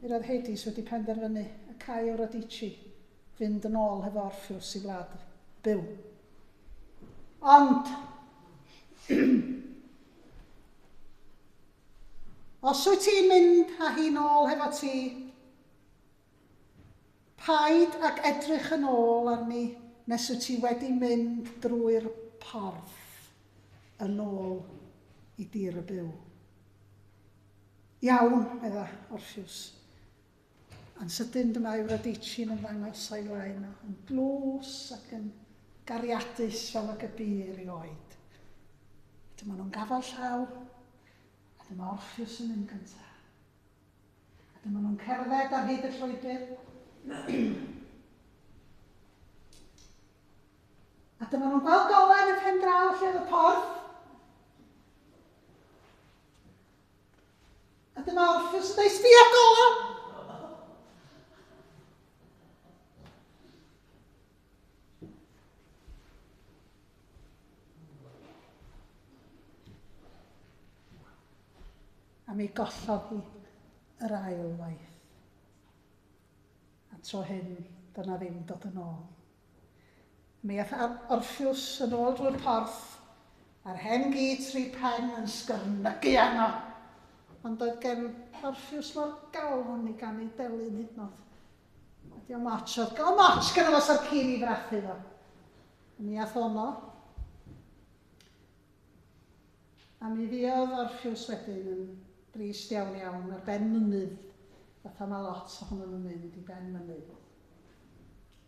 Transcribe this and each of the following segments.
Yr oedd Hades wedi penderfynu y câi Eurydice fynd yn ôl hefo Orpheus i wlad byw. Ond... Os wyt ti'n mynd â hi'n ôl hefo ti, paid ag edrych yn ôl arni nes wyt ti wedi mynd drwy'r porth yn ôl i dir y byw. Iawn, medda Orphews. Yn sydyn dyma Eurydice'n ymddangos o'i flaen o, yn dlws ac yn gariadus fel ag y bu erioed. Dyma nhw'n gafael llaw, a dyma Orphews yn mynd gyntaf. A dyma nhw'n cerdded ar hyd y llwybr. A dyma nhw'n gweld golau yn y pen draw lle oedd y porth. A dyma Orffews yn dweud, sbia gola! A mi gollodd hi yr ail waith. A tro hyn, doedd na ddim dod yn ôl. Mi ath Ann Orffws yn ôl drwy'r porth, a'r hen gi tri phen yn sgyrnygu arno. Ond doedd gen Orffws mo'r galon i ganu delyn hyd nod. A diom otsh oedd galon otsh gynno fo sa'r ci'n i frathu fo. Mi ath ono. A mi fuodd Orffws wedyn yn drist iawn iawn ar ben mynydd, fatha mae lot ohonon nhw'n mynd i ben mynydd.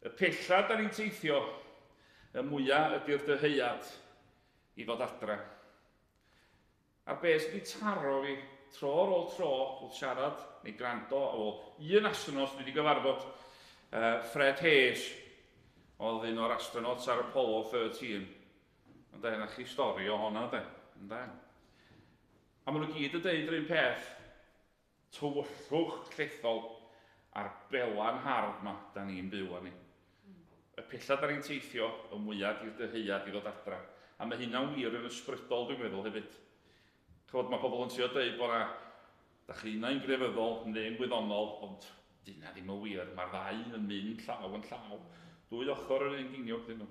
Y pella da ni'n teithio, y mwya ydy'r dyheuad i fod adre. A beth sydd wedi taro fi, tro ar ôl tro, wrth siarad neu gwrando ar ôl un astronot dwi wedi gyfarfod, Fred Haise oedd un o'r astronauts ar Apollo 13, ynde, na chi stori o honna de, ynde. A maen nhw gyd yn deud yr un peth, Tywyllwch llethol a'r bela'n hardd 'ma 'da ni'n byw arni. Y pella 'da ni'n teithio, y mwya' di'r dyheuad i ddod adra. A ma' hynna'n wir yn ysbrydol dwi'n meddwl hefyd. Ch'mod ma' pobl yn trio deud bo' 'na, 'da chi unai yn grefyddol neu'n wyddonol, ond 'di hynna ddim yn wir, ma'r ddau yn mynd llaw yn llaw. Dwy ochor yr un geiniog 'dyn nhw.